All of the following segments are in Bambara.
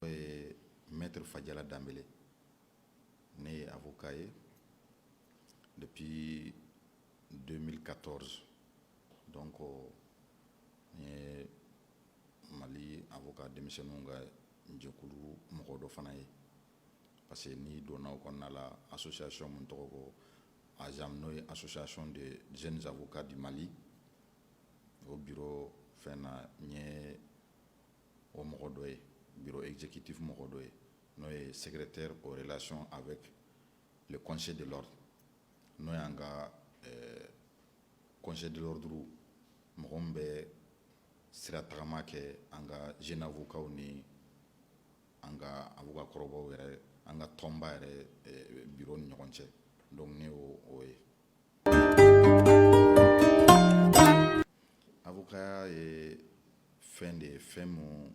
N'o ye Maître Fajala Danbele ne ye avocat ye depuis 2014 donc n ye Mali avocat denmisɛnninw ka jɛkulu mɔgɔ dɔ fana ye parce que n'i donna o kɔnɔna la association min tɔgɔ ko AJAM n'o ye association des jeunes avocats du Mali o bureau fɛn na n ye o mɔgɔ dɔ ye bureau exécutif mɔgɔ dɔ ye n'o ye secrétaire aux relations avec le conseil de l'ordre n'o y'an ka eh, conseil de l'ordre mɔgɔ min bɛ sira tagama kɛ an ka jeune avocats ni an ka avocat kɔrɔbaw yɛrɛ an ka tɔnba yɛrɛ eh, bureau ni ɲɔgɔn cɛ donc ne y'o o ye Avocat ye fɛn de ye fɛn mun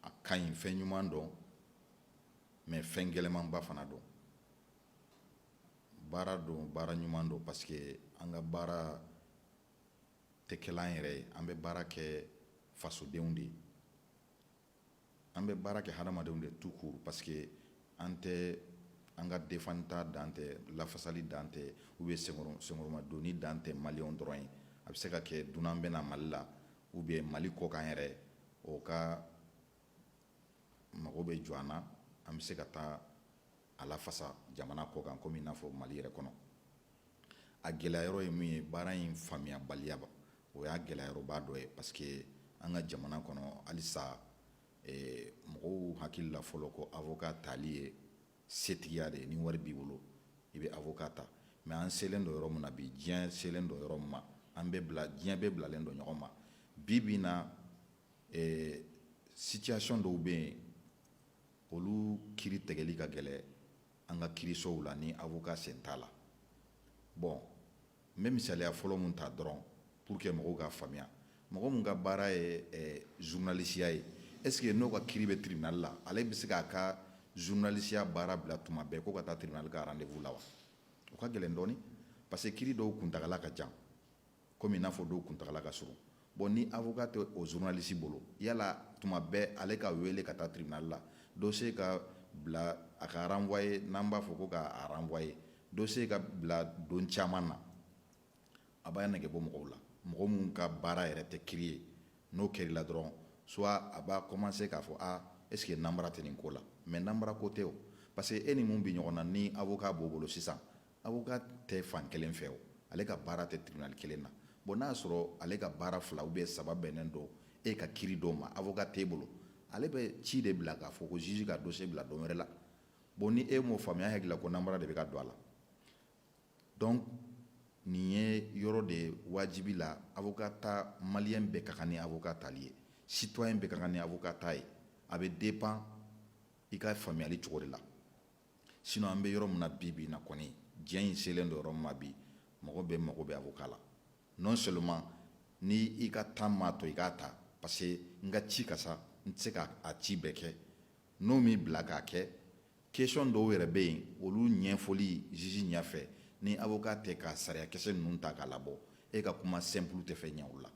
a ka ɲi fɛn ɲuman don mais fɛn gɛlɛmanba fana don baara don baara ɲuman don parce que an ka baara tɛ kɛla an yɛrɛ ye an bɛ baara kɛ fasodenw de ye An bɛ baara kɛ hadamadenw de tout court parce que an tɛ an ka defanta dan tɛ lafasali dan tɛ ou bien senkɔrɔmadonni dan tɛ maliyɛnw dɔrɔn ye, a bɛ se ka kɛ dunan bɛ na Mali la ou bien Mali kɔkan yɛrɛ o ka mago bɛ jɔ an na, an bɛ se ka taa a lafasa jamana kɔ kan komi i n'a fɔ mali yɛrɛ kɔnɔ a gɛlɛya yɔrɔ ye min ye baara in faamuyabaliyaba o y'a gɛlɛyayɔrɔba dɔ ye parce que an ka jamana kɔnɔ halisa eh, mɔgɔw hakili la fɔlɔ ko avocat tali ye setigiya de ye ni wari b'i bolo i bɛ avocat ta mais an selen don yɔrɔ min na bi diɲɛ selen don yɔrɔ min ma an bɛ bila diɲɛ bɛɛ bilalen don ɲɔgɔn ma bi bi in na eh, situation dɔw bɛ yen olu kiri tɛgɛli ka gɛlɛ an ka kirisow la ni avocat sen t'a la bon n bɛ misaliya fɔlɔ mun ta dɔrɔn pour que mɔgɔw k'a faamuya mɔgɔ mun ka baara ye eh, journalisiya ye est ce que n'o ka kiri bɛ tribunal la ale bɛ se k'a ka journalisiya baara bila tuma bɛɛ ko ka taa tribunal ka rendez-vous la wa o ka gɛlɛn dɔɔni parce que kiri dɔw kuntagala ka jan komi n'a fɔ dɔw kuntagala ka surun bon ni avocat tɛ o journaliste bolo yala tuma bɛɛ ale ka wele ka taa tribunal la dossier ka bila a ka renvoyer n'an b'a fɔ ko k'a renvoyer dossier ka bila don caman na a b'a nɛgɛ bɔ mɔgɔw la mɔgɔ min ka baara yɛrɛ tɛ kiri ye n'o kɛr'i la dɔrɔn soit a b'a commencer k'a fɔ a est ce que nanbara tɛ nin ko la mais nanbara ko tɛ o parce que e ni mun bɛ ɲɔgɔn na ni avocat b'o bolo sisan Avocat tɛ fan kelen fɛ o ale ka baara tɛ tribunal kelen na bon n'a y'a sɔrɔ ale ka baara fila ou bien saba bɛnnen don e ka kiri dɔ ma avocat t'e bolo ale bɛ ci de bila k'a fɔ ko juge ka dossier bila don wɛrɛ la bon ni e m'o faamuya e hakili la ko namara de bɛ ka don a la donc nin ye yɔrɔ de ye wajibi la avocat ta maliyɛn bɛɛ ka kan ni avocat tali ye citoyen bɛɛ ka kan ni avocat ta ye a bɛ dépend i ka faamuyali cogo de la sinon an bɛ yɔrɔ min na bi bi na kɔni diɲɛ in selen don yɔrɔ min ma bi mɔgɔ bɛɛ mago bɛ avocat la non seulement n'i ka temps m'a to i k'a ta parce que n ka ci ka sa n tɛ se k'a ci bɛɛ kɛ n'o m'i bila k'a kɛ question dɔw yɛrɛ bɛ yen olu ɲɛfɔli juge ɲɛfɛ ni avocat tɛ ka sariyakisɛ ninnu ta k'a labɔ e ka kuma simple tɛ fɛn ɲɛ o la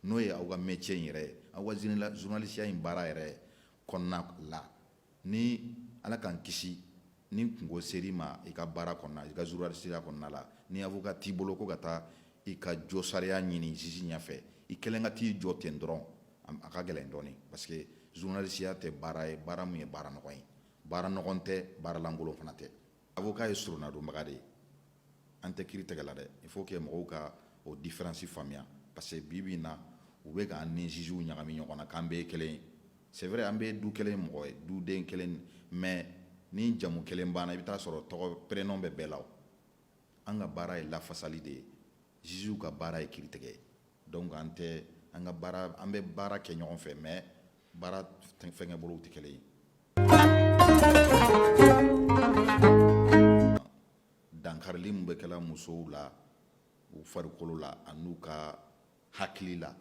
n'o ye aw ka métier in yɛrɛ aw ka journalisiya in baara yɛrɛ kɔnɔna la ni ala k'an kisi ni kunko ser'i ma i ka baara kɔnɔna i ka journalisiya kɔnɔna la ni avocat t'i bolo ko ka taa i ka jo sariya ɲini juge ɲɛfɛ i kelen ka t'i jɔ ten dɔrɔn a ka gɛlɛn dɔɔnin parce que journalisiya tɛ baara ye baara min ye baara nɔgɔ ye baara nɔgɔ tɛ baara lankolon fana tɛ Avocat ye surunadonbaga de ye an tɛ kiri tɛgɛ la dɛ il faut que mɔgɔw ka o différence faamuya parce que bi bi na u bɛ k'an ni jugew ɲagami ɲɔgɔn na k'an bɛɛ ye kelen ye c'est vrai an bɛɛ du kelen mɔgɔ ye duden kelen mais ni jamu kelen banna i bɛ t'a sɔrɔ tɔgɔ prénom bɛ bɛɛ la o an ka baara ye lafasali de ye jugew ka baara ye kiri tigɛ ye donc an tɛ an ka baara an bɛ baara kɛ ɲɔgɔn fɛ mais baara fɛnkɛ bolow tɛ kelen ye dankarili min bɛ kɛla musow la u farikolo la ani u ka hakili la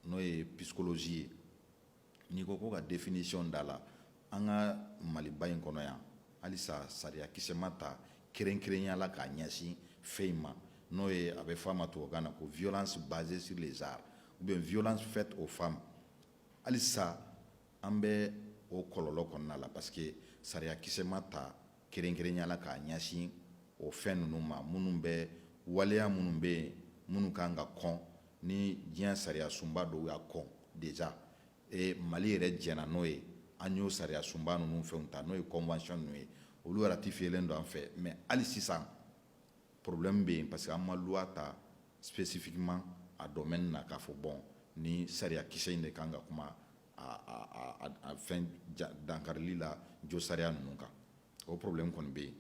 n'o ye psychologie ye n'i ko ko ka définition d'a la an ka maliba in kɔnɔ yan halisa sariya kisɛ ma ta kɛrɛnkɛrɛnya la k'a ɲɛsin fɛn in ma n'o ye a bɛ fɔ a ma tubabukan na ko violence basée sur le genre ou bien violence faite aux femmes halisa an bɛ o kɔlɔlɔ kɔnɔna la parce que sariya kisɛ ma ta Kɛrɛnkɛrɛnya la k'a ɲɛsin o fɛn ninnu ma minnu bɛ waleya minnu bɛ yen minnu ka kan ka kɔn ni diɲɛ sariya sunba dɔw y'a kɔn déjà ee mali yɛrɛ jɛnna n'o ye an y'o sariya sunba ninnu fɛn ta n'o ye convention ninnu ye olu ratifiyelen don an fɛ mais hali sisan problème bɛ yen parce que an ma loi ta spécifiquement a domaine na k'a fɔ bon ni sariyakisɛ in de kan ka kuma fɛn dankarili la josariya ninnu kan o problème kɔni bɛ yen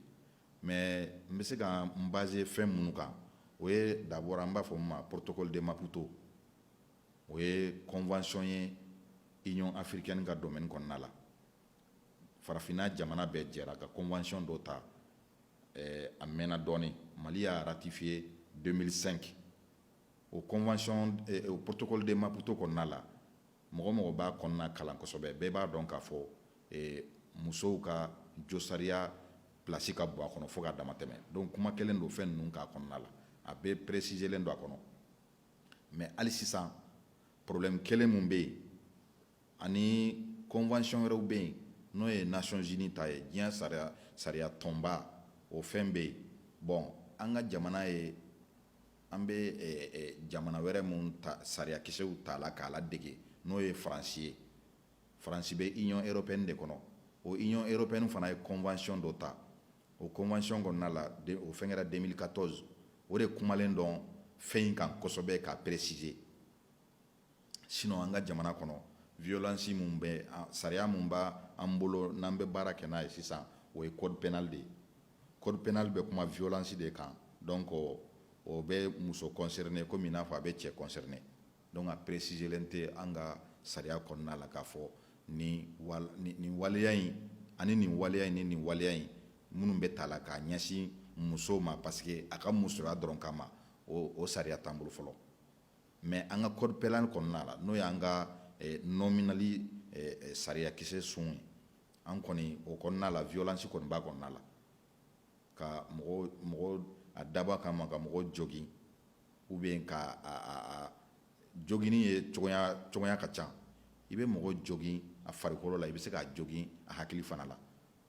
mais n bɛ se ka n baser fɛn minnu kan o ye d'abord an b'a fɔ min ma protocole de Maputo o ye convention ye Union africaine ka domaine kɔnɔna la farafinna jamana bɛɛ jɛra ka convention dɔ ta a mɛnna dɔɔnin mali y'a ratifier deux mille cinq o convention o protocole de Maputo kɔnɔna la mɔgɔ mɔgɔ b'a kɔnɔna kalan kosɛbɛ bɛɛ b'a dɔn k'a fɔ musow ka josariya place ka bon a kɔnɔ fo ka damatɛmɛ donc kumalen don fɛn ninnu kan a kɔnɔna la a bɛɛ presizelen don a kɔnɔ mais hali sisan problème kelen min bɛ yen ani convention wɛrɛw bɛ yen n'o ye Nations Unies ta ye diɲɛ sariya tɔnba o fɛn bɛ yen bon an ka jamana ye An bɛ jamana wɛrɛ minnu sariyakisɛw ta la k'a la dege n'o ye faransi ye faransi bɛ i ɲɔgɔn e bɛ de kɔnɔ o i ɲɔgɔn bɛ fana ye kɔnfayɔn dɔ ta o kɔnfayɔn kɔnɔna na la o fɛn kɛra deli ka tɔn o de kumalen dɔn fɛn in kan kɔsɔsɛbɛ ka peresise sinon an ka jamana kɔnɔ violence min bɛ sariya min b'an bolo n'an bɛ baara kɛ n'a ye sisan o ye code pénal de ye code pénal bɛ kuma violence de kan donc o bɛ muso concerner komi i n'a fɔ a bɛ cɛ concerner donc a presizelen tɛ an ka sariya kɔnɔna la k'a fɔ ni nin waleya in ani nin waleya in ni nin waleya in minnu bɛ ta la k'a ɲɛsin muso ma parce que a ka musoya dɔrɔn kama o sariya t'an bolo fɔlɔ mais an ka code pénal kɔnɔna la n'o y'an ka nɔminɛli sariyakisɛ sun ye an kɔni o kɔnɔna la violence kɔni b'a kɔnɔna la ka mɔgɔ a dabɔ kama ka mɔgɔ jogin ou bien ka joginni ye cogoya ka ca i bɛ mɔgɔ jogin a farikolo la i bɛ se k'a jogin a hakili fana la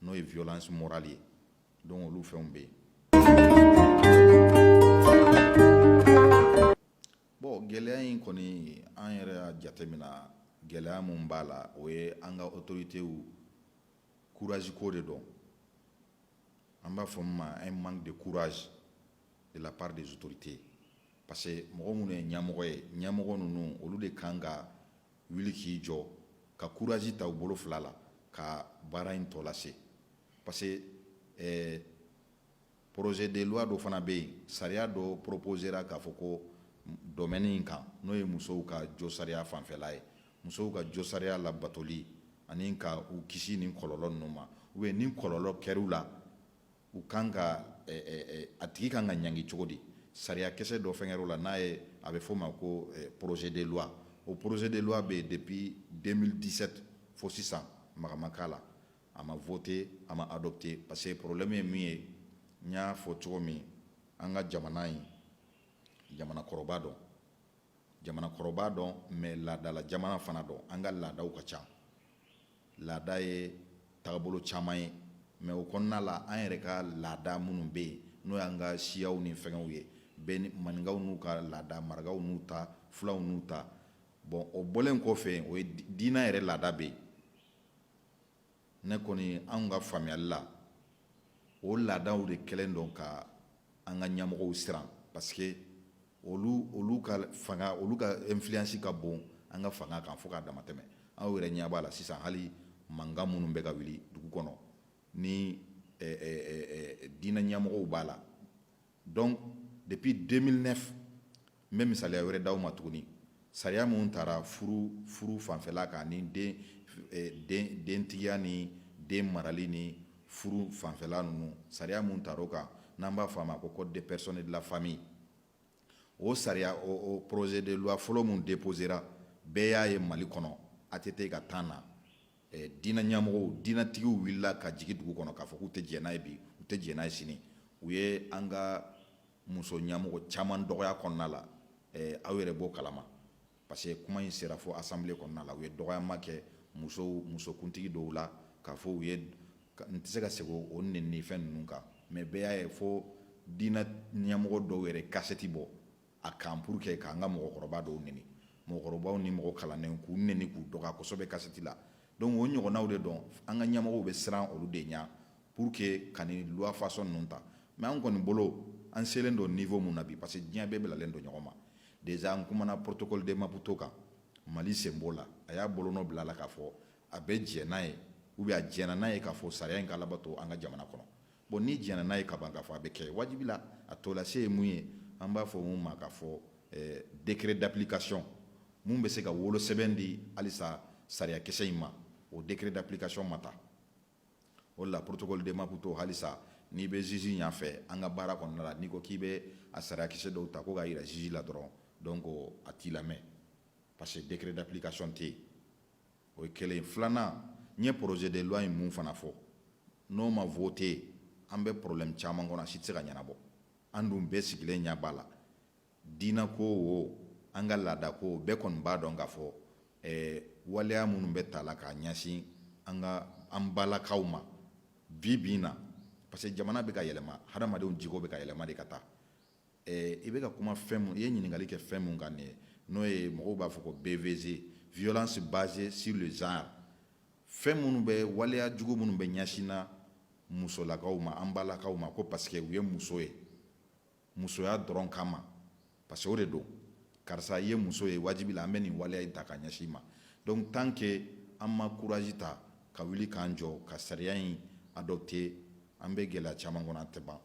n'o ye violence morale ye Donc olu fɛnw bɛ yen bon gɛlɛya in kɔni an yɛrɛ y'a jatemina gɛlɛya min b'a la o ye an ka autoritéw courage ko de don an b'a fɔ min ma un manque de courage de la part des autorités parce que mɔgɔ minnu ye ɲamɔgɔ ye ɲamɔgɔ ninnu olu de kan ka wuli k'i jɔ ka courage ta u bolo fila la ka baara in tɔ lase Parce que ɛɛ projet de loi dɔ fana bɛ yen, sariya dɔ proposera k'a fɔ ko domaine in kan n'o ye musow ka josariya fanfɛla ye, musow ka josariya labatoli ani ka u kisi nin kɔlɔlɔ ninnu ma ou bien ni kɔlɔlɔ kɛra u la, u ka kan ka ɛɛ a tigi ka kan ka ɲangi cogo di? Sariyakisɛ dɔ fɛnkɛra o la n'a ye a bɛ fɔ o ma ko projet de loi o projet de loi bɛ yen depuis 2017 fo sisan maga ma k'a la, a ma voté a ma adopté parce que problème ye mun ye n y'a fɔ cogo min an ka jamana ye jamanakɔrɔba don jamanakɔrɔba don mais laadala jamana fana don an ka laadaw ka ca laada ye tagabolo caman ye mais o kɔnɔna la an yɛrɛ ka laada minnu bɛ yen n'o y'an ka siyaw ni fɛngɛw ye bɛɛ ni maninkaw n'u ka laada marakaw n'u ta fulaw n'u ta bon o bɔlen kɔfɛ o ye diinɛ yɛrɛ laada bɛ yen ne kɔni anw ka faamuyali la o laadaw de kɛlen don ka an ka ɲɛmɔgɔw siran parce que olu olu ka fanga olu ka influence ka bon an ka fanga kan fo k'a dama tɛmɛ aw yɛrɛ ɲɛ b'a la sisan hali mankan minnu bɛ ka wuli dugu kɔnɔ ni eh, eh, eh, eh, diinɛ ɲɛmɔgɔw b'a la donc depuis 2009 n bɛ misaliya wɛrɛ di aw ma tuguni sariya min tara furu fanfɛla kan ni dentigiya ni den marali ni furu fanfɛla ninnu sariya min tara o kan n'an b'a fɔ a ma ko code des personnes et de la famille o sariya o projet de loi fɔlɔ min déposera bɛɛ y'a ye Mali kɔnɔ ATT ka temps na Diinɛ ɲamɔgɔw diinɛtigiw wulila ka jigin dugu kɔnɔ k'a fɔ k'u tɛ jɛn n'a ye bi u tɛ jɛn n'a ye sini u ye an ka muso ɲamɔgɔ caman dɔgɔya kɔnɔna la aw yɛrɛ b'o kalama parce que kuma in sera fo assemblée kɔnɔna la u ye dɔgɔyama kɛ muso musokuntigi dɔw la k'a fɔ u ye n tɛ se ka segin o neni fɛn ninnu kan mais bɛɛ y'a ye fo diinɛ ɲamɔgɔ dɔw yɛrɛ kasɛti bɔ a kan pour que k'an ka mɔgɔkɔrɔba dɔw neni mɔgɔkɔrɔbaw ni mɔgɔ kalannenw k'u neni k'u dɔgɔya kosɛbɛ kasɛti la donc o ɲɔgɔnnaw de don an ka ɲamɔgɔw bɛ siran olu de ɲɛ pour que ka loi façon ninnu ta mais an kɔni bolo an selen don niveau min na bi parce que diɲɛ bɛɛ bilalen don ɲɔgɔn ma déjà n kumana protocole de Maputo kan Mali sen b'o la a y'a bolonɔ bila a la k'a fɔ a bɛ diɲɛ n'a ye ou bien a diɲɛna n'a ye k'a fɔ sariya in ka labato an ka jamana kɔnɔ Bon n'i jɛnna n'a ye ka ban k'a fɔ a bɛ kɛ wajibi la a tɔlase ye mun ye an b'a fɔ min ma k'a fɔ décret d'application min bɛ se ka wolosɛbɛn di halisa sariyakisɛ in ma o décret d'application ma ta o la protocole de Maputo halisa n'i bɛ juge ɲɛfɛ an ka baara kɔnɔna la n'i ko k'i bɛ a sariyakisɛ dɔw ta ko k'a jira juge la dɔrɔn donc a t'i lamɛn parce que décret d'application tɛ yen o ye kelen filanan n ye projet de loi in mun fana fɔ n'o ma voté an bɛ problème caman kɔnɔ a si tɛ se ka ɲɛnabɔ an dun bɛɛ sigilen ɲɛ b'a la diinako o an ka laadako bɛɛ kɔni b'a dɔn k'a fɔ eh, waleya minnu bɛ ta la k'a ɲɛsin an ka an balakaw ma bi bi in na parce que jamana bɛ ka yɛlɛma hadamadenw jogo bɛ ka yɛlɛma de ka taa Eh, i bɛ ka kuma fɛn mun i ye ɲininkali kɛ fɛn mun kan nin ye n'o ye mɔgɔw b'a fɔ ko BVG violence basée sur le genre fɛn minnu bɛ waleya jugu minnu bɛ ɲɛsin na musolakaw ma an balakaw ma ko parce que u ye muso ye musoya dɔrɔn kama parce que o de don karisa i ye muso ye wajibi la an bɛ nin waleya in ta k'a ɲɛsin i ma donc tant que an ma courage ta ka wuli k'an jɔ ka sariya in adopter an bɛ gɛlɛya caman kɔnɔ a tɛ ban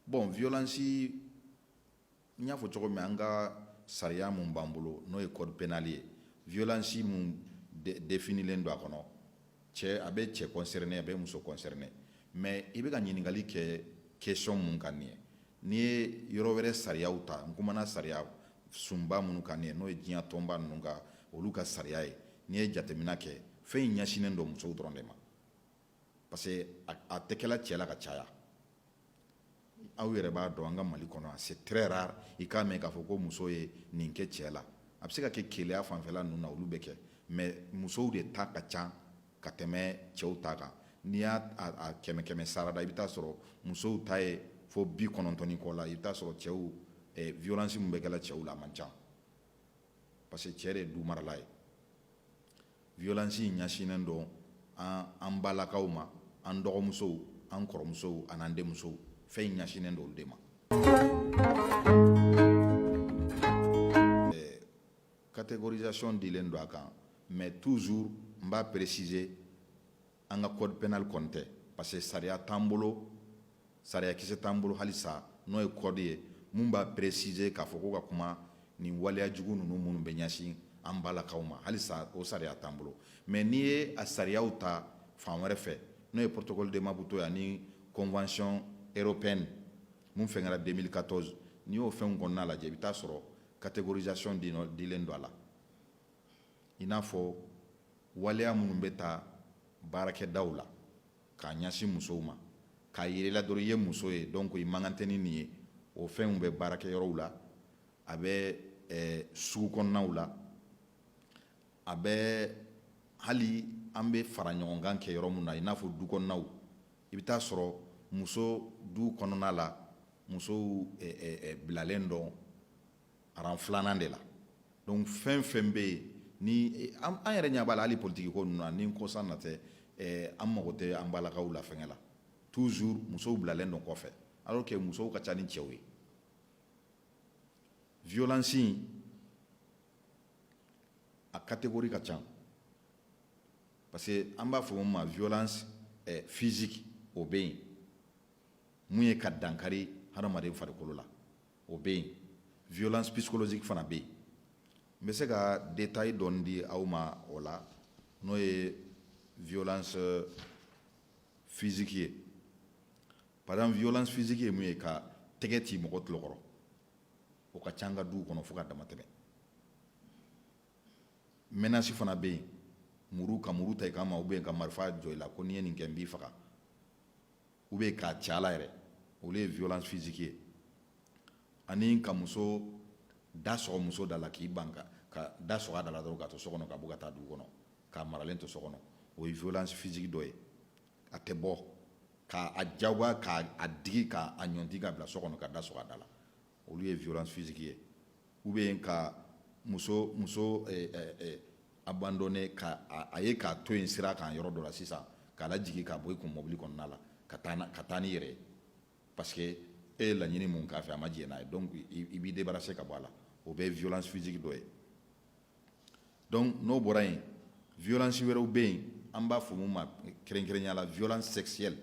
Bon violence n y'a fɔ cogo min an ka sariya mun b'an bolo n'o ye code pénal ye violence mun définilen don a kɔnɔ cɛ a bɛ cɛ concerner a bɛ muso concerner mais i bɛ ka ɲininkali kɛ question mun kan nin ye n'i ye yɔrɔ wɛrɛ sariyaw ta n kumana sariya sunba minnu kan nin ye n'o ye diɲɛ tɔnba ninnu ka olu ka sariya ye n'i ye jateminɛ kɛ fɛn in ɲɛsinnen don musow dɔrɔn de ma parce que a tɛ kɛla cɛ la ka caya aw yɛrɛ b'a dɔn an ka Mali kɔnɔ c'est très rare i k'a mɛn k'a fɔ ko muso ye nin kɛ cɛ la a bɛ se ka kɛ keleya fanfɛla ninnu na olu bɛ kɛ mais musow de ta ka ca ka tɛmɛ cɛw ta kan n'i y'a a kɛmɛ kɛmɛ sarada i bɛ taa sɔrɔ musow ta ye fo bi kɔnɔntɔn ni kɔ la i bɛ taa sɔrɔ cɛw eh, violence min bɛ kɛla cɛw la a man ca parce que cɛ de ye du marala ye violence in ɲɛsinnen don an an balakaw ma an dɔgɔmusow an kɔrɔmusow an'an denmusow fɛn in ɲɛsinnen don olu de ma eh, catégorisation dilen don a kan mais toujours n b'a préciser an ka code pénal kɔni tɛ parce que sariya t'an bolo sariya kisɛ t'an bolo halisa n'o ye code ye mun b'a préciser k'a fɔ ko ka kuma nin waleya jugu ninnu minnu bɛ ɲɛsin an balakaw ma halisa o sariya t'an bolo mais n'i ye a sariyaw ta fan wɛrɛ fɛ n'o ye protocole de Maputo ye ani convention européenne mun fɛn kɛra 2014 n'i y'o fɛnw kɔnɔna lajɛ i bɛ taa sɔrɔ catégorisation dilen don a la i n'a fɔ waleya minnu bɛ ta baarakɛdaw la k'a ɲɛsin musow ma k'a yir'i la dɔrɔn i ye muso ye donc i man kan tɛ ni nin ye o fɛnw bɛ baarakɛ yɔrɔw la a bɛ eh, sugu kɔnɔnaw la a bɛ hali an bɛ faraɲɔgɔnkan kɛ yɔrɔ min na i n'a fɔ du kɔnɔnaw i bɛ taa sɔrɔ muso du kɔnɔna la musow eh, eh, bilalen don rang filanan de la donc fɛn fɛn bɛ yen ni an yɛrɛ ɲɛ b'a la hali politiki ko ninnu na ni kɔsa in na tɛ eh, an mago tɛ an balakaw la fɛngɛ la toujours musow bilalen don kɔfɛ alors que musow ka ca ni cɛw ye violence in a catégorie ka ca parce que an b'a fɔ mun ma violence eh, physique o bɛ yen mun ye ka dankari hadamaden farikolo la o bɛ yen violence psychologique fana bɛ yen n bɛ se ka détail dɔɔni di aw ma o la n'o ye violence euh, physique ye par exemple violence physique ye mun ye ka tɛgɛ ci mɔgɔ tulo kɔrɔ o ka ca an ka duw kɔnɔ fo ka dama tɛmɛ menace fana bɛ yen muru ka muru ta i kanma ou bien ka marifa jɔ i la ko n'i ye nin kɛ n b'i faga ou bien k'a ci a la yɛrɛ olu ye violence physique ye ani ka muso da sɔgɔ muso da la k'i ban ka ka da sɔgɔ a da la dɔrɔn ka to so kɔnɔ ka bɔ ka taa dugu kɔnɔ k'a maralen to so kɔnɔ o ye violence physique dɔ ye a tɛ bɔ ka a jagoya ka a digi ka a ɲɔnti k'a bila so kɔnɔ ka da sɔgɔ a da la olu ye violence physique ye ou bien ka muso muso abandonner a ye k'a to yen sira kan yɔrɔ dɔ la sisan k'a lajigin k'a bɔ i kun mɔbili kɔnɔna la ka taa ka taa n'i yɛrɛ ye parce que e ye laɲini min k'a fɛ a ma jɛn n'a ye donc i b'i débarrasser ka bɔ a la o bɛɛ violence physique dɔ ye donc n'o bɔra yen violence wɛrɛw bɛ yen an b'a fɔ mun ma kɛrɛnkɛrɛnya la violence sexuelle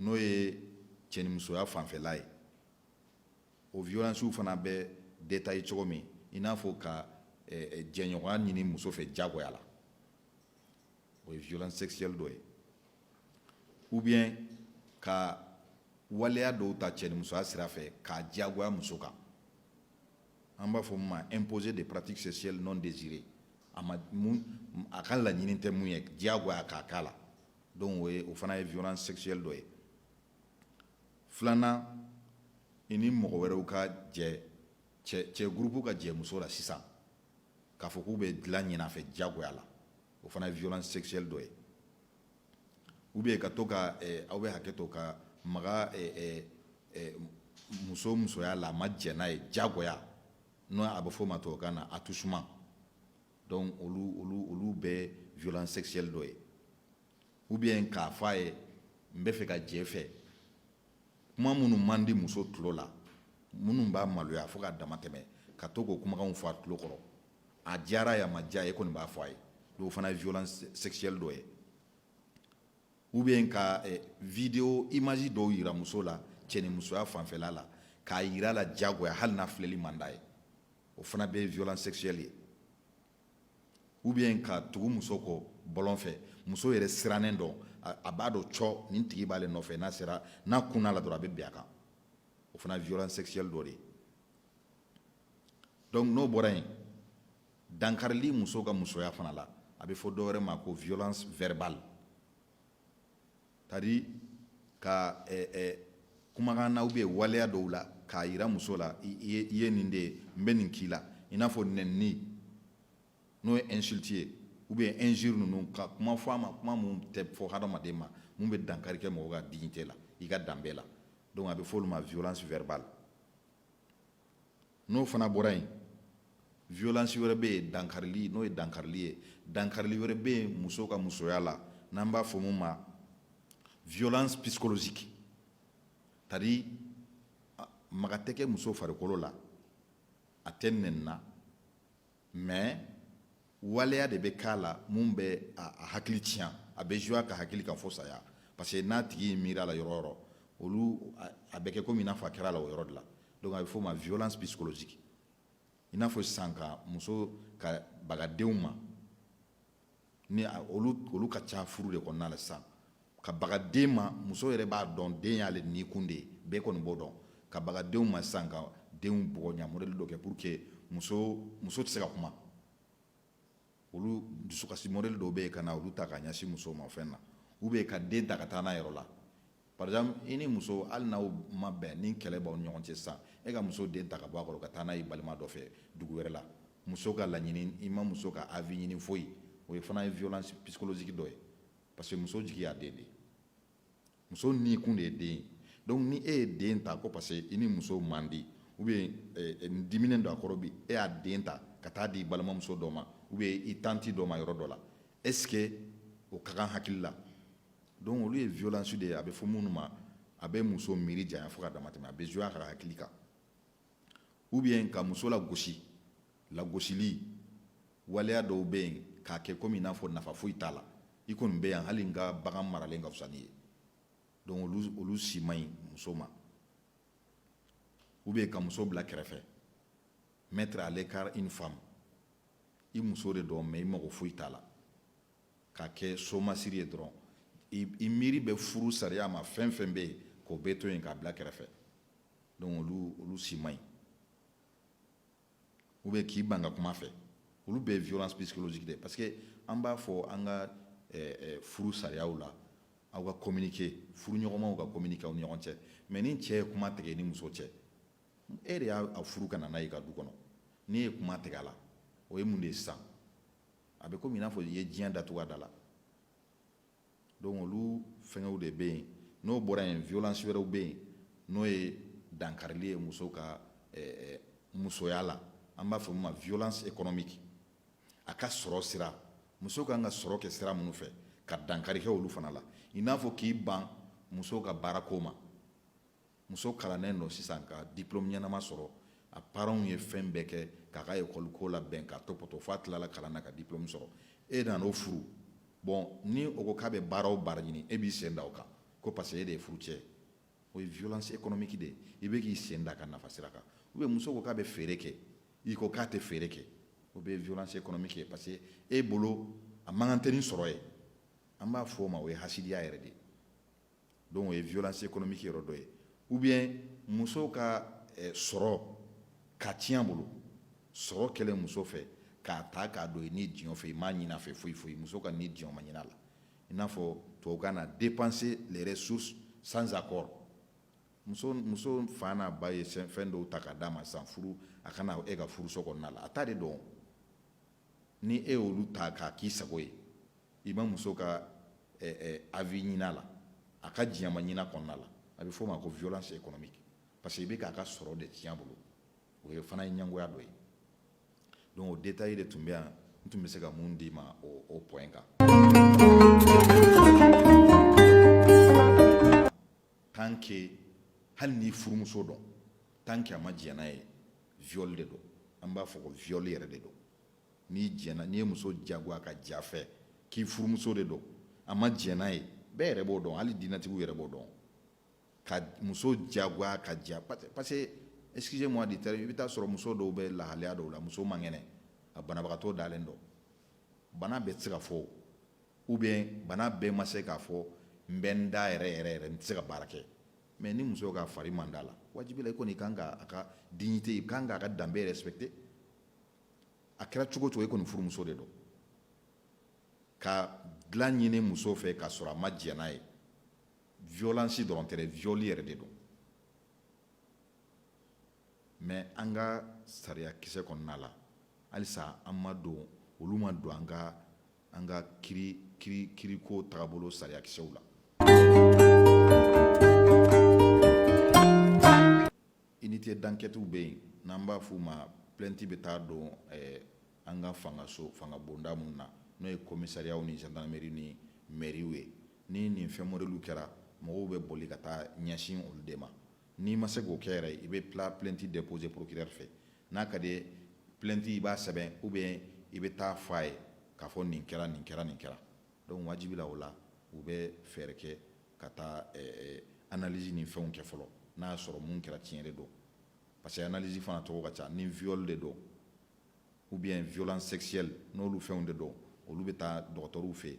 n'o ye cɛnimusoya fanfɛla ye o violencew fana bɛ détailler cogo min i n'a fɔ ka eh, eh, jɛɲɔgɔnya ɲini muso fɛ jagoya la o ye violence sexuelle dɔ ye ou bien ka waleya dɔw ta cɛnimusoya sira fɛ k'a diyagoya muso kan an b'a fɔ min ma imposer des pratiques sexuelles non désirées a ma mun a ka laɲini tɛ mun ye diyagoya k'a k'a la donc o ye o fana ye violence sexuelle dɔ ye filanan i ni mɔgɔ wɛrɛw ka jɛ cɛ gurupu ka jɛ muso la sisan k'a fɔ k'u bɛ dilan ɲin'a fɛ diyagoya la o fana ye violence sexuelle dɔ ye ou bien ka to ka eh, aw bɛ hakɛ to ka maga eh, eh, eh, muso musoya la a ma jɛn n'a ye diyagoya n'o a bɛ f'o ma tubabukan na attouchement donc olu olu olu bɛɛ violence sexuelle dɔ ye ou bien k'a fɔ a ye n bɛ fɛ ka jɛ fɛ kuma minnu man di muso tulo la minnu b'a maloya fo ka dama tɛmɛ ka to k'o kumakanw fɔ a tulo kɔrɔ a diyara ye a ma diya ye e kɔni b'a fɔ a ye donc o fana ye violence sexuelle dɔ ye ou bien ka eh, vidéo image dɔw yira muso la cɛnimusoya fanfɛla la k'a yira a la diyagoya hali n'a filɛli man d'a ye o fana bɛ violence sexuelle ye ou bien ka tugu muso kɔ bɔlɔn fɛ muso yɛrɛ sirannen don a b'a dɔn cɔ nin tigi b'ale nɔfɛ n'a sera n'a kunna a la dɔrɔn a bɛ bin a kan o fana violence sexuelle dɔ de ye donc n'o bɔra yen dankarili muso ka musoya fana la a bɛ fɔ dɔwɛrɛ ma ko violence verbale c'est-à-dire ka kumakan na ou bien waleya dɔw la k'a yira muso la i ye nin de ye n bɛ nin k'i la i n'a fɔ nɛnini n'o ye insulte ye ou bien injure ninnu ka kuma fɔ a ma kuma mun tɛ fɔ hadamaden ma mun bɛ dankari kɛ mɔgɔ ka dignité la i ka danbe la donc a bɛ fɔ olu ma violence verbale n'o fana bɔra yen violence wɛrɛ bɛ yen dankarili n'o ye dankarili ye dankarili wɛrɛ bɛ yen muso ka musoya la n'an b'a fɔ mun ma violence psychologique c'est-à-dire maga tɛ kɛ muso farikolo la a tɛ nɛnina mais waleya de bɛ k'a la mun bɛ a hakili tiɲɛ a bɛ jouer a ka hakili kan fo saya parce que n'a tigi miira a la yɔrɔ o yɔrɔ olu a bɛ kɛ komi i n'a fɔ a kɛra a la o yɔrɔ de la donc a bɛ f'o ma violence psychologique i n'a fɔ sisan ka muso ka baga denw ma ni olu ka ca furu de kɔnɔna na sisan ka baga den ma muso yɛrɛ b'a dɔn den y'ale ni kun de ye bɛɛ kɔni b'o dɔn ka baga denw ma sisan ka denw bugɔ ɲa mɔdɛli dɔ kɛ pour que muso muso tɛ se ka kuma olu dusukasi mɔdɛli dɔw bɛ yen ka na olu ta ka ɲɛsin muso ma fɛn na ou bien ka den ta ka taa n'a yɔrɔ la par exemple i ni muso hali n'aw ma bɛn ni kɛlɛ b'aw ni ɲɔgɔn cɛ sisan e ka muso den ta ka bɔ a kɔrɔ ka taa n'a ye balima dɔ fɛ dugu wɛrɛ la muso ka laɲini i ma muso ka avis ɲini foyi o ye fana ye violence psychologique dɔ ye parce que muso jigi y'a den de ye muso ni kun de ye den ye donc ni e ye den ta ko parce que i ni muso man di ou bien eh, eh, n diminen don a kɔrɔ bi e y'a den ta ka taa di balimamuso dɔ ma ou bien i tanti dɔ ma yɔrɔ dɔ la est ce que o ka kan hakili la donc olu ye violence de ye a bɛ fɔ minnu ma a bɛ muso miiri janya fo ka dama tɛmɛ a bɛ jouer a ka hakili kan ou bien ka muso lagosi lagosili waleya dɔw bɛ yen k'a kɛ komi i n'a fɔ nafa foyi t'a la i kɔni bɛ yan hali n ka bagan maralen ka fisa n'i ye donc olu olu si man ɲi muso ma ou bien ka muso bila kɛrɛfɛ mettre à l'écart une femme i muso de don mais i mago foyi t'a la ka kɛ somasiri ye dɔrɔn i miiri bɛ furu sariya ma fɛn fɛn bɛ yen k'o bɛɛ to yen k'a bila kɛrɛfɛ donc olu olu si man ɲi ou bien k'i ban ka kuma a fɛ olu bɛɛ ye violence psychologique de ye parce que an b'a fɔ an ka eh, eh, furu sariyaw la aw ka communiquer furu ɲɔgɔnmaw ka communiquer aw ni ɲɔgɔn cɛ mais ni cɛ ye kuma tigɛ i ni muso cɛ e de y'a furu ka na n'a ye i ka du kɔnɔ n'i ye kuma tigɛ a la o ye mun de ye sisan a bɛ komi i n'a fɔ i ye diɲɛ datugu a da la donc olu fɛngɛw de bɛ yen n'o bɔra yen violence wɛrɛw bɛ yen n'o ye dankarili ye muso ka eh, eh, musoya la an b'a fɔ min ma violence économique a ka sɔrɔ sira muso ka kan ka sɔrɔ kɛ sira minnu fɛ ka dankari kɛ olu fana la i n'a fɔ k'i ban muso ka baarako ma muso kalannen don sisan ka diplôme ɲɛnama sɔrɔ a parents ye fɛn bɛɛ kɛ k'a ka école ko labɛn k'a tɔpɔtɔ f'a tilala kalan na ka diplôme sɔrɔ e nana o furu bon ni o ko k'a bɛ baara o baara ɲini e b'i sen da o kan ko parce que e de ye furucɛ ye o ye violence économique de ye i bɛ k'i sen da a ka nafa sira kan ou bien muso ko k'a bɛ feere kɛ i ko k'a tɛ feere kɛ o bɛɛ ye violence économique ye parce que e bolo a man kan tɛ ni sɔrɔ ye an b'a fɔ o ma o ye hasidiya yɛrɛ de ye donc o ye violence économique yɔrɔ dɔ ye ou bien muso ka eh, sɔrɔ k'a tiɲɛ a bolo sɔrɔ kɛlen muso fɛ k'a ta k'a don i ni diɲɛ fɛ i m'a ɲin'a fɛ foyi foyi muso ka ni diɲɛ ma ɲin'a la i n'a fɔ tubabukan na dépenser les ressources sans accord muso muso fa n'a ba ye fɛn dɔw ta k'a d'a ma sisan furu a ka na e ka furuso kɔnɔna la a ta de don ni e y'olu ta k'a k'i sago ye i ma muso ka avis ɲin'a la a ka diɲɛ ma ɲin'a kɔnɔna la a bɛ f'o ma ko violence économique parce que i bɛ k'a ka sɔrɔ de tiɲɛ a bolo o ye fana ye ɲɛngoya dɔ ye donc o détail de tun bɛ yan n tun bɛ se ka min d'i ma o point kan tant que hali n'i furumuso don tant que a ma diɲɛ n'a ye viol de don an b'a fɔ ko viol yɛrɛ de don n'i jɛnna n'i ye muso diyagoya ka j'a fɛ k'i furumuso de don a ma jɛn n'a ye bɛɛ yɛrɛ b'o dɔn hali diinɛtigiw yɛrɛ b'o dɔn ka muso diyagoya ka j'a parce que excusez-moi du terme i bɛ taa sɔrɔ muso dɔw bɛ lahalaya dɔw la muso man kɛnɛ a banabagatɔ dalen don bana bɛɛ tɛ se ka fɔ ou bien bana bɛɛ ma se k'a fɔ n bɛ n da yɛrɛ yɛrɛ yɛrɛ n tɛ se ka baara kɛ mais ni muso ka fari man d'a la wajibi la i kɔni kan ka a ka dignité i kan ka a ka danbe respecter a kɛra cogo o cogo i kɔni furumuso de don ka dilan ɲini muso fɛ k'a sɔrɔ a ma jɛn n'a ye violence dɔrɔn tɛ dɛ viol yɛrɛ de don mais an ka sariya kisɛ kɔnɔna la halisa an ma don olu ma don an ka an ka kiri kiri kiriko tagabolo sariyakisɛw la unité d'enquête bɛ yen n'an b'a f'u ma plainte bɛ taa don eh, an ka fangaso fanga bonda minnu na n'o ye commissariatw ni gendarmerie ni mairie ye ni nin fɛn modèle kɛra mɔgɔw bɛ boli ka taa ɲɛsin olu de ma N'i ma se k'o kɛ yɛrɛ i bɛ tila plainte déposer procureur fɛ n'a ka di plainte i b'a sɛbɛn ou bien i bɛ taa fɔ a ye k'a fɔ nin kɛra nin kɛra nin kɛra donc wajibi la o la u bɛ fɛɛrɛ kɛ ka taa analyse ni fɛnw kɛ fɔlɔ n'a y'a sɔrɔ min kɛra tiɲɛ de don parce que analyse fana tɔgɔ ka ca ni viol de don ou bien violence sexuelle n'olu fɛnw de don olu bɛ taa dɔgɔtɔrɔw fɛ yen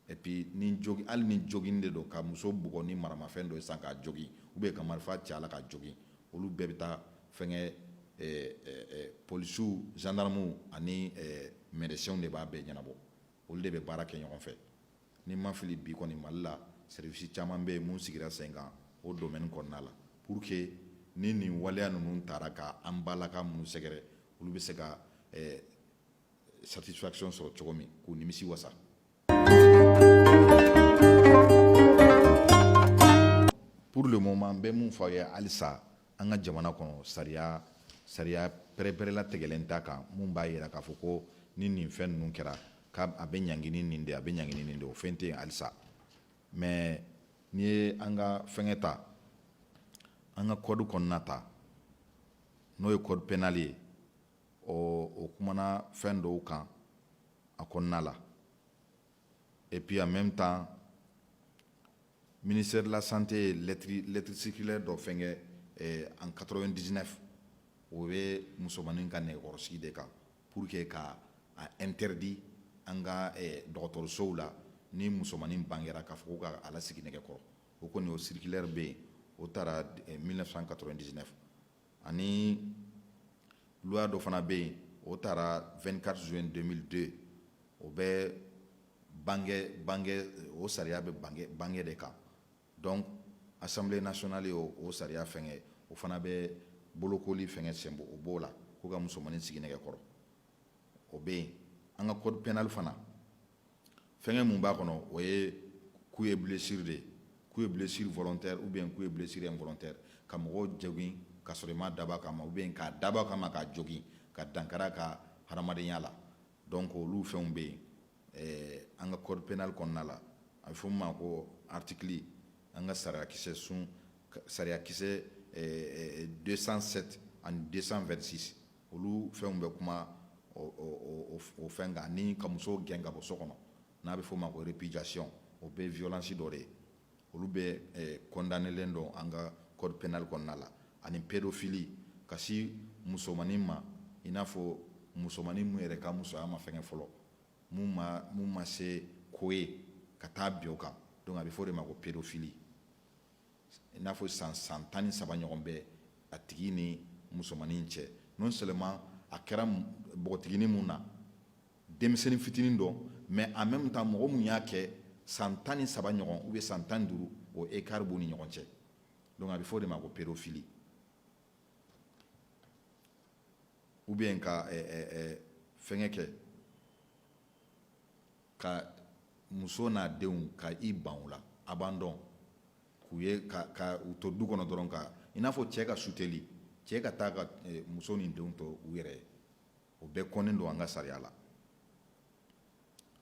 Et puis ni hali ni jogin de don ka muso bugɔ ni maramafɛn dɔ ye sisan k'a jogin ou bien ka marifa ci a la k'a jogin olu bɛɛ bɛ taa fɛnkɛ polisiw gendarmew ani médecinw de b'a bɛɛ ɲɛnabɔ olu de bɛ baara kɛ ɲɔgɔn fɛ ni n ma fili bi kɔni mali la seribisi caman bɛ yen mun sigira sen kan o domaine kɔnɔna la pour que ni nin waleya ninnu taara k'an bala ka minnu sɛgɛrɛ olu bɛ se ka satisfaction sɔrɔ cogo min k'u nimisi wasa pour le moment n bɛ mun fɔ aw ye halisa an ka jamana kɔnɔ sariya sariya pɛrɛpɛrɛla tigɛlen t'a kan mun b'a yira k'a fɔ ko ni nin fɛn ninnu kɛra k'a a bɛ ɲangi ni nin de a bɛ ɲangi ni nin de o fɛn tɛ yen halisa mais n'i ye an ka fɛngɛ ta an ka code kɔnɔna ta n'o ye code pénal ye ɔ o kumana fɛn dɔw kan a kɔnɔna la et puis en même temps ministère de la santé ye lettre lettre circulaire dɔ fɛnkɛ eh, en 99 o bɛ musomanin ka nɛgɛkɔrɔsigi de kan pour que ka a interdit an ka eh, dɔgɔtɔrɔsow la ni musomanin bangera k'a fɔ ko ka a lasigi nɛgɛkɔrɔ o kɔni o circulaire bɛ yen o taara eh, 1999 ani loi dɔ fana bɛ yen o taara 24 juin 2002 o bɛ bange bange o sariya bɛ bange bange de kan donc assemblée nationale ye o sariya fɛngɛ o fana bɛ bolokoli fɛngɛ senbɔ o b'o la ko ka musomanin sigi nɛgɛkɔrɔ o bɛ yen an ka code pénal fana fɛnkɛ mun b'a kɔnɔ o ye coup et blessure de ye coup et blessure volontaire ou bien coup et blessure involontaire ka mɔgɔ jogin ka sɔrɔ i m'a dabɔ a kama ou bien k'a dabɔ a kama k'a jogin ka dankari a ka hadamadenya la donc olu fɛnw bɛ yen eh, an ka code pénal kɔnɔna la a bɛ fɔ min ma ko article an ka sariyakisɛ sun sariyakisɛ 207 eh, eh, ani 226 olu fɛnw bɛ kuma o fɛn kan ani ka muso gɛn ka bɔ so kɔnɔ n'a bɛ f'o ma ko répudiation o bɛ violence dɔ de ye olu bɛɛ eh, condamnelen don an ka code pénal kɔnɔna la ani pédophilie ka si musomanin ma i n'a fɔ musomanin mun yɛrɛ ka musoya ma fɛngɛ fɔlɔ mun ma mun ma se ko ye ka taa bin o kan donc a bɛ fɔ o de ma ko pédophilie i n'a fɔ san san tan ni saba ɲɔgɔn bɛ a tigi ni musomanin cɛ non seulement a kɛra npogotiginin mun na denmisɛnnin fitinin don mais en même temps mɔgɔ mun y'a kɛ san tan ni saba ɲɔgɔn ou bien san tan duuru o écart b'u ni ɲɔgɔn cɛ donc a bɛ fɔ o de ma ko pédophilie ou bien ka fɛn kɛ ka muso n'a denw ka i ban u la abandon k'u ye ka ka u to du kɔnɔ dɔrɔn ka i n'a fɔ cɛ ka suteli cɛ ka taa ka eh, muso ni denw to u yɛrɛ ye o bɛɛ kɔnnen don an ka sariya la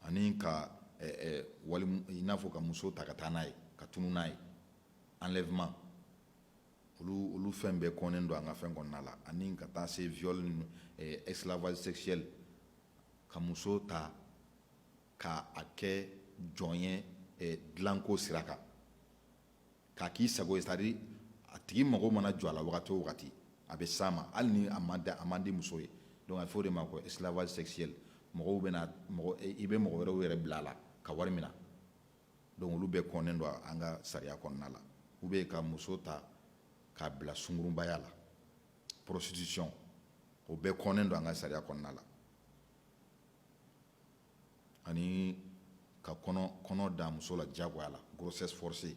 ani ka eh, eh, wali i n'a fɔ ka muso ta ka taa n'a ye ka tunu n'a ye enlèvement olu olu fɛn bɛɛ kɔnnen don an ka fɛn kɔnɔna la ani ka taa se viol ni eh, esclavage sexuel ka muso ta k'a kɛ jɔn ye dilanko sira kan k'a k'i sago ye c'est-à-dire a tigi mago mana jɔ a la wagati o wagati a bɛ s'a ma hali ni a ma da a man di muso ye donc a bɛ fɔ o de ma ko esclavage sexuel mɔgɔw bɛna i bɛ mɔgɔ wɛrɛw yɛrɛ bila a la ka wari mina donc olu bɛɛ kɔnnen don an ka sariya kɔnɔna la ou bien ka muso ta k'a bila sungurunbaya la prostitution o bɛɛ kɔnnen don an ka sariya kɔnɔna la ani ka kɔnɔ kɔnɔ da muso la diyagoya la grossesse forcée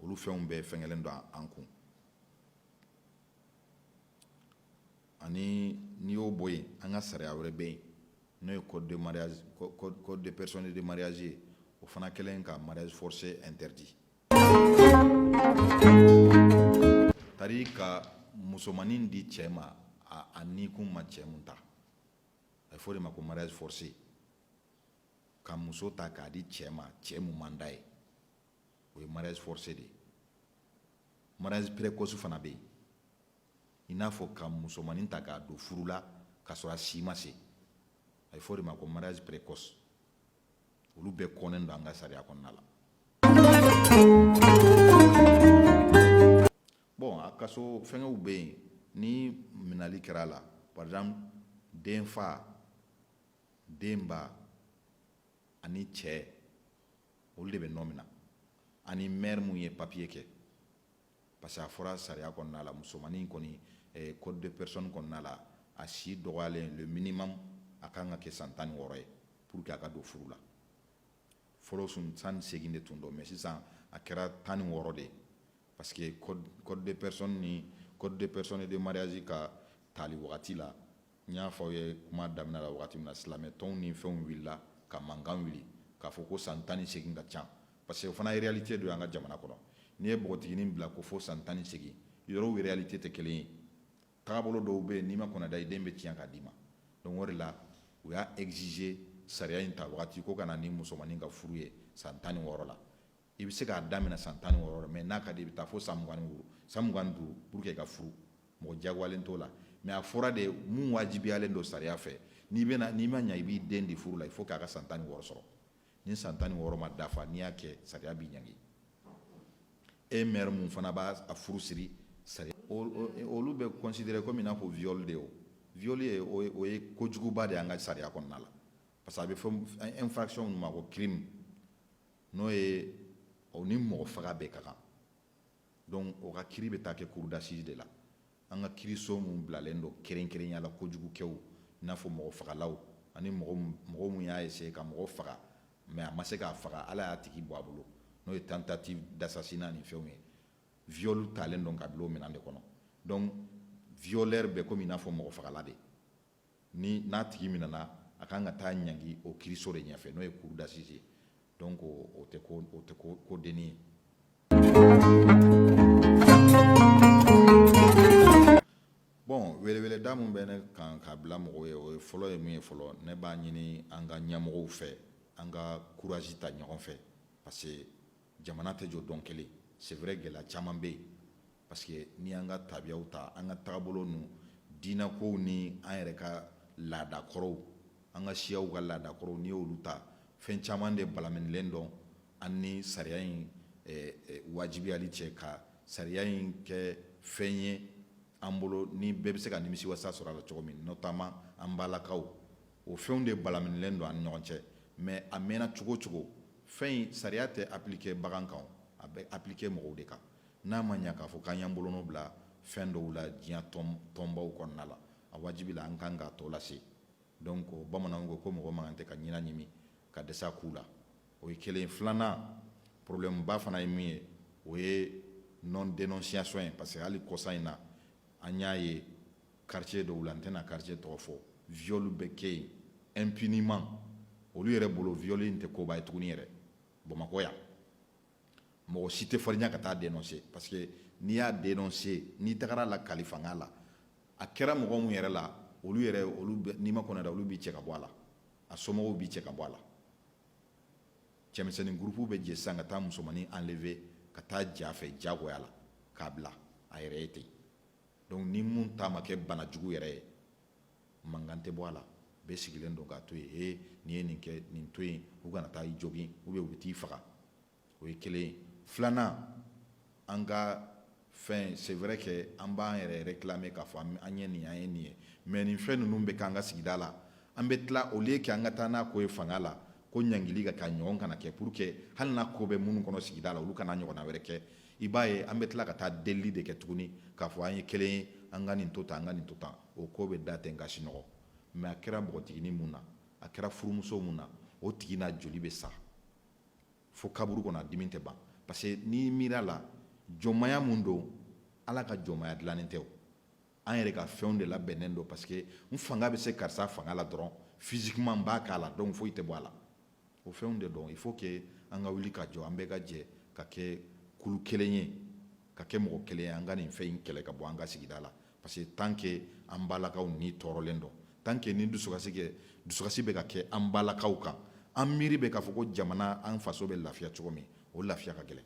olu fɛnw bɛɛ fɛngɛlen don an kun ani n'i y'o bɔ yen an ka sariya wɛrɛ bɛ yen n'o ye code de mariage code de personne de mariage ye o fana kɛlen ka mariage forcé interdit c'est-à-dire ka musomannin di cɛ ma a ni kun ma cɛ mun ta a bɛ fɔ o de ma ko mariage forcé ka muso ta k'a di cɛ ma cɛ mun man d'a ye o ye mariage forcé de ye mariage précoce fana bɛ yen i n'a fɔ ka musomanin ta k'a don furu la k'a sɔrɔ a si ma se a bɛ fɔ o de ma ko mariage précoce olu bɛɛ kɔnnen don an ka sariya kɔnɔna la bon a kaso fɛngɛw bɛ yen ni minali kɛra a la par exemple den fa den ba ani cɛ olu de bɛ nɔmina ani maire mun ye papier kɛ parce que a fɔra sariya kɔnɔna la musomannin kɔni eh, code de personne kɔnɔna la a si dɔgɔyalen le minimum a kan ka kɛ san tan ni wɔɔrɔ ye pour que a ka don furu la fɔlɔ san tan ni seegin de tun don mais sisan a kɛra tan ni wɔɔrɔ de ye parce que code, code de personne ni code de personne et de mariage ka tali wagati la n y'a fɔ aw ye kuma daminɛ la wagati min na silamɛ tɔnw ni fɛnw wulila ka mankan wuli k'a fɔ ko san tan ni segin ka ca parce que o fana réalité don an ka jamana kɔnɔ n'i ye npogotiginin bila ko fo san tan ni segin yɔrɔw réalité tɛ kelen ye tagabolo dɔw bɛ yen n'i ma kɔnɔda i den bɛ tiɲɛ k'a d'i ma donc o de la u y'a exiger sariya in ta wagati ko ka na ni musomanin ka furu ye san tan ni wɔɔrɔ la i bɛ se k'a daminɛ san tan ni wɔɔrɔ mais n'a ka di i bɛ taa fo san mugan duuru san mugan duuru pour que i ka furu mɔgɔ jagoyalen t'o la mais a fɔra de mun wajibiyalen don sariya fɛ n'i bɛna n'i ma ɲɛ i b'i den di furu la il faut k'a ka san tan ni wɔɔrɔ sɔrɔ ni san tan ni wɔɔrɔ ma dafa n'i y'a kɛ sariya b'i ɲangi e maire mun fana b'a a furu siri sariya olu bɛ considérer komi i n'a fɔ viol de o viol ye o ye kojuguba de y'an ka sariya kɔnɔna la parce que a bɛ fɔ infraction min ma ko crime n'o ye o ni mɔgɔ faga bɛɛ ka kan donc o ka kiiri bɛ taa kɛ cour d'assises de la an ka kiiriso mun bilalen don kɛrɛnkɛrɛnya la kojugukɛw i n'a fɔ mɔgɔ fagalaw ani mɔgɔ min y'a essayer ka mɔgɔ faga mais a ma se k'a faga ala y'a tigi bɔ a bolo n'o ye tentative d'assassinat ni fɛnw ye viol talen don ka bila o minɛn de kɔnɔ donc violeur bɛ komi i n'a fɔ mɔgɔ fagala de ni n'a tigi minɛna a ka kan ka taa ɲangi o kiiriso de ɲɛfɛ n'o ye cour d'assises ye donc o tɛ ko denni ye bon weleweleda min bɛ ne kan k'a bila mɔgɔw ye o ye fɔlɔ ye min ye fɔlɔ ne b'a ɲini an ka ɲɛmɔgɔw fɛ an ka courage ta ɲɔgɔn fɛ parce que jamana tɛ jɔ don kelen c'est vrai gɛlɛya caman bɛ yen parce que ni an ka tabiyaw ta an ka tagabolo ninnu diinɛ kow ni an yɛrɛ ka laada kɔrɔw an ka siyaw ka laada kɔrɔw n'i y'olu ta fɛn caman de balaminilen don an ni sariya in eh, eh, wajibiyali cɛ ka sariya in kɛ fɛn ye an bolo ni bɛɛ bɛ se ka nimisi wasa sɔrɔ a la cogo min notamment an balakaw o fɛnw de balaminilen don an ni ɲɔgɔn cɛ mais a mɛnna cogo o cogo fɛn in sariya tɛ appliquer bagan kan a bɛ appliquer mɔgɔw de kan n'a ma ɲɛ k'a fɔ k'an y'an bolonɔ bila fɛn dɔw la diɲɛ tɔnbaw kɔnɔna la a wajibila an kan k'a tɔ lase donc bamananw ko ko mɔgɔ man kan tɛ ka ɲinan ɲimi ka dɛsɛ a ku la o ye kelen filanan problème ba fana ye min ye o ye non dénonciation ye parce que hali kɔsa in na an y'a ye quartier dɔw la n tɛna quartier tɔgɔ fɔ viol bɛ kɛ yen impunément olu yɛrɛ bolo viol in tɛ koba ye tuguni yɛrɛ bamakɔ yan mɔgɔ si tɛ farinya ka taa dénoncer parce que n'i y'a dénoncer n'i tagara a lakali fanga la a kɛra mɔgɔ mun yɛrɛ la olu yɛrɛ olu n'i ma kɔnɔ da olu b'i cɛ ka bɔ a la a somɔgɔw b'i cɛ ka bɔ a la cɛmisɛnnin gurupu bɛ jɛ sisan ka taa musomannin enlever ka taa j'a fɛ jagoya la k'a bila a yɛrɛ ye ten donc ni mun ta ma kɛ banajugu yɛrɛ ye mankan tɛ bɔ a la bɛɛ sigilen don k'a to yen ee n'i ye nin kɛ nin to yen u kana taa i jogin ou bien u bɛ t'i faga o ye kelen ye filanan an ka fɛn c'est vrai que an b'an yɛrɛ réclamer k'a fɔ an ye nin an ye nin ye mais nin fɛn ninnu bɛ k'an ka sigida la an bɛ tila au lieu que an ka taa n'a ko ye fanga la ko ɲangili ka k'a ɲɔgɔn kana kɛ pour que hali n'a ko bɛ minnu kɔnɔ sigida la olu kan'a ɲɔgɔnna wɛrɛ kɛ i b'a ye an bɛ tila ka taa delili de kɛ tuguni k'a fɔ an ye kelen ye an ka nin to tan an ka nin to tan o ko bɛ da ten ka sinɔgɔ mais a kɛra npogotiginin mun na a kɛra furumuso mun na o tigi n'a joli bɛ sa fo kaburu kɔnɔ a dimi tɛ ban parce que n'i miira a la jɔnmaya mun don ala ka jɔnmaya dilannen tɛ o an yɛrɛ ka fɛnw de labɛnnen don parce que n fanga bɛ se karisa fanga la dɔrɔn physiquement n b'a k'a la donc foyi tɛ bɔ a la o fɛnw de don il faut que an ka wuli ka jɔ an bɛɛ ka jɛ ka kɛ kulu kelen ye ka kɛ mɔgɔ kelen ye an ka nin fɛn in kɛlɛ ka bɔ an ka sigida la parce que tant que an balakaw ni tɔɔrɔlen don tant que ni dusukasi kɛ dusukasi bɛ ka kɛ an balakaw kan an miiri bɛ k'a fɔ ko jamana an faso bɛ lafiya cogo min o lafiya ka gɛlɛn